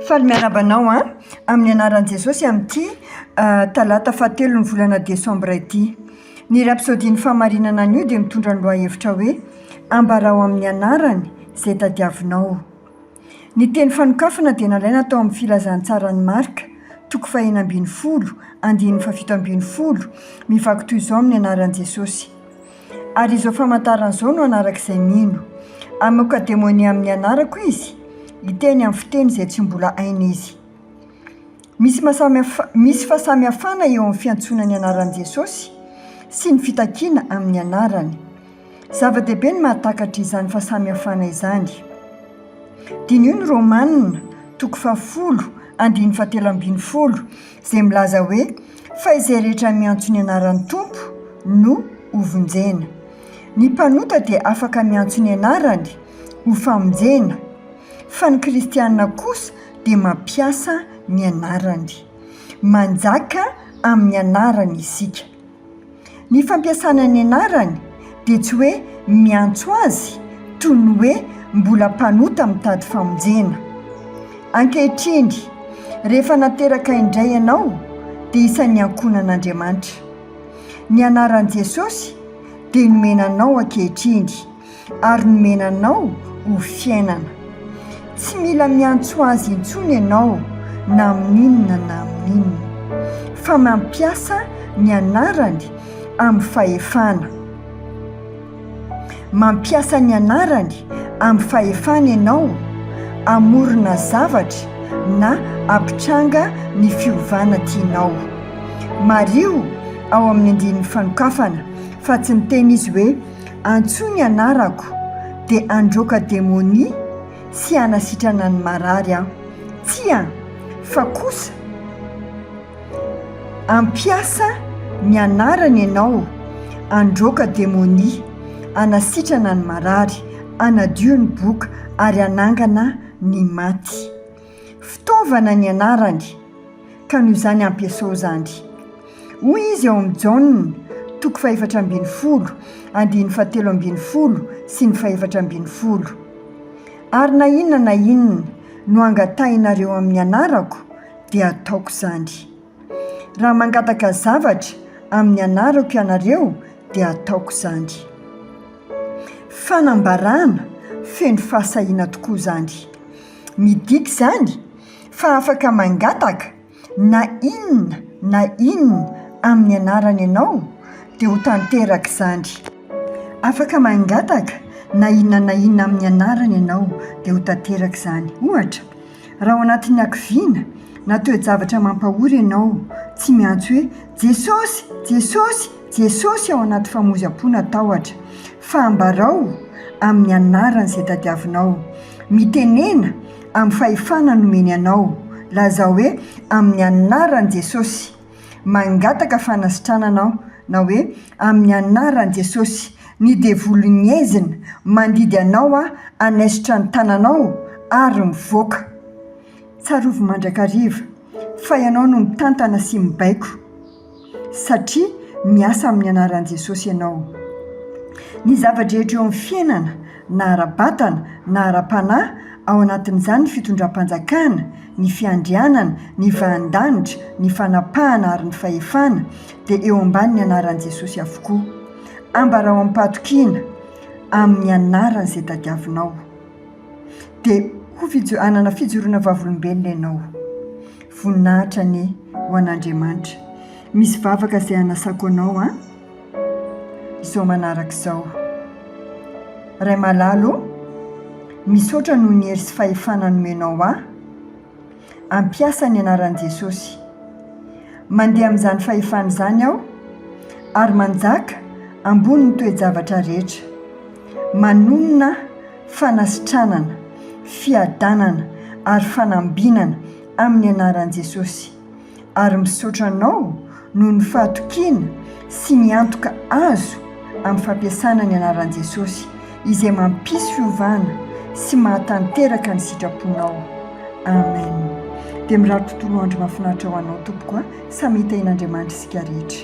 Faly miarahaba anao an! Amin'ny anaran'i Jesosy amin'ity talata fahatelon'ny volana desambra ity. Ny rapsodian'ny fahamarinana anio dia mitondra ny lohahevitra hoe Ambarao amin'ny Anarany izay tadiavinao. Ny teny fanokafana dia nalaina tao amin'ny Filazantsaran'i Marka, toko fahenina ambin'ny folo, andininy fahafito ambin'ny folo, mivaky toy izao amin'ny anaran'i Jesosy. Ary izao famantarana izao no hanarak'izay mino, Hamoaka demonia amin'ny anarako izy, hiteny amin'ny fiteny izay tsy mbola hainy izy. Misy maha-samihafa, misy fahasamihafana eo amin'ny fiantsoana ny anaran'i Jesosy sy ny fitakiana amin'ny anarany. Zava-dehibe ny mahatakatra izany fahasamihafana izany. Diniho ny Romanina, toko fahafolo, andininy fahatelo ambin'ny folo, izay milaza hoe, Fa izay rehetra miantso ny anaran'ny Tompo no hovonjena. Ny mpanota dia afaka miantso ny anarany ho famonjena, fa ny kristiana kosa dia mampiasa ny anarany. Manjaka amin'ny anarany isika. Ny fampiasana ny anarany dia tsy hoe miantso azy toy ny hoe mbola mpanota mitady famonjena. Ankehitriny, rehefa nateraka indray ianao, dia isan'ny ankohonan'Andriamanitra. Ny anaran'i Jesosy dia nomena anao ankehitriny. ary nomena anao ho fiainana. Tsy mila miantso Azy intsony ianao na amin'inona na amin'inona, fa mampiasa ny Anarany amin'ny fahefana. Mampiasa ny Anarany amin'ny fahefana ianao hamorona zavatra na hampitranga ny fiovana tianao. Mariho ao amin'ny andininy fanokafana fa tsy niteny Izy hoe. Antsoy ny anarako, dia handroaka demonia sy hanasitrana ny marary aho. Tsia, fa kosa hampiasa ny anarany ianao handroaka demonia, hanasitrana ny marary, hanadio ny boka, ary hanangana ny maty. Fitaovana ny anarany, ka noho izany ampiasao izany. Hoy izy ao amin'ny Jaona, toko fahefatra ambin'ny folo, andininy fahatelo ambin'ny folo sy ny fahefatra ambin'ny folo, Ary na inona na inona no angatahinareo amin'ny anarako, dia ataoko izany. Raha mangataka zavatra amin'ny anarako ianareo, dia ataoko izany. Fanambarana feno fahasahiana tokoa izany! Midika izany fa afaka mangataka na inona na inona amin'ny anarany ianao dia ho tanteraka izany. Afaka mangataka na inona na inona amin'ny anarany ianao dia ho tanteraka izany. Ohatra, raha ao anatin'ny hakiviana na toe-javatra mampahory ianao, tsy miantso hoe Jesosy! Jesosy! Jesosy! ao anaty famoizam-po na tahotra. Fa ambarao amin'ny anarany izay tadiavinao, mitenena amin'ny fahefana nomeny anao, lazao hoe, Amin'ny anaran'i Jesosy, mangataka fanasitranana aho, na hoe, Amin'ny anaran'i Jesosy, ny devoly ngezina mandidy anao aho hanaisotra ny tananao ary mivoaka. Tsarovy mandrakariva fa ianao no mitantana sy mibaiko. satria miasa amin'ny anaran'i Jesosy ianao. Ny zava-drehetra eo amin'ny fiainana, na ara-batana na ara-panahy, ao anatin'izany ny fitondram-panjakana, ny fiandrianana, ny vahan-danitra, ny fanapahana ary ny fahefana, dia eo ambanin'ny anaran'i Jesosy avokoa. Ambarao amim-pahatokiana amin'ny anaran'izay tadiavinao. Dia ho fijo- hanana fijoroana vavolombelona ianao. Voninahitra anie ho an'Andriamanitra. Misy vavaka izay hanasako anao an! Izao manaraka izao. Ray malala ô, misaotra noho ny hery sy fahefana nomenao ahy. Hampiasa ny anaran'i Jesosy. Mandeha amin'izany fahefana izany aho, ary manjaka ambony ny toe-javatra rehetra. Manonona fanasitranana, fiadanana, ary fanambinana amin'ny anaran'i Jesosy. ary misaotra anao noho ny fahatokiana sy ny antoka azo amin'ny fampiasana ny anaran'i Jesosy izay mampisy fiovana sy mahatanteraka ny sitraponao Amen dia mirary tontolo andro mahafinaritra ho anao tompoko a samy hitahian'Andriamanitra isika rehetra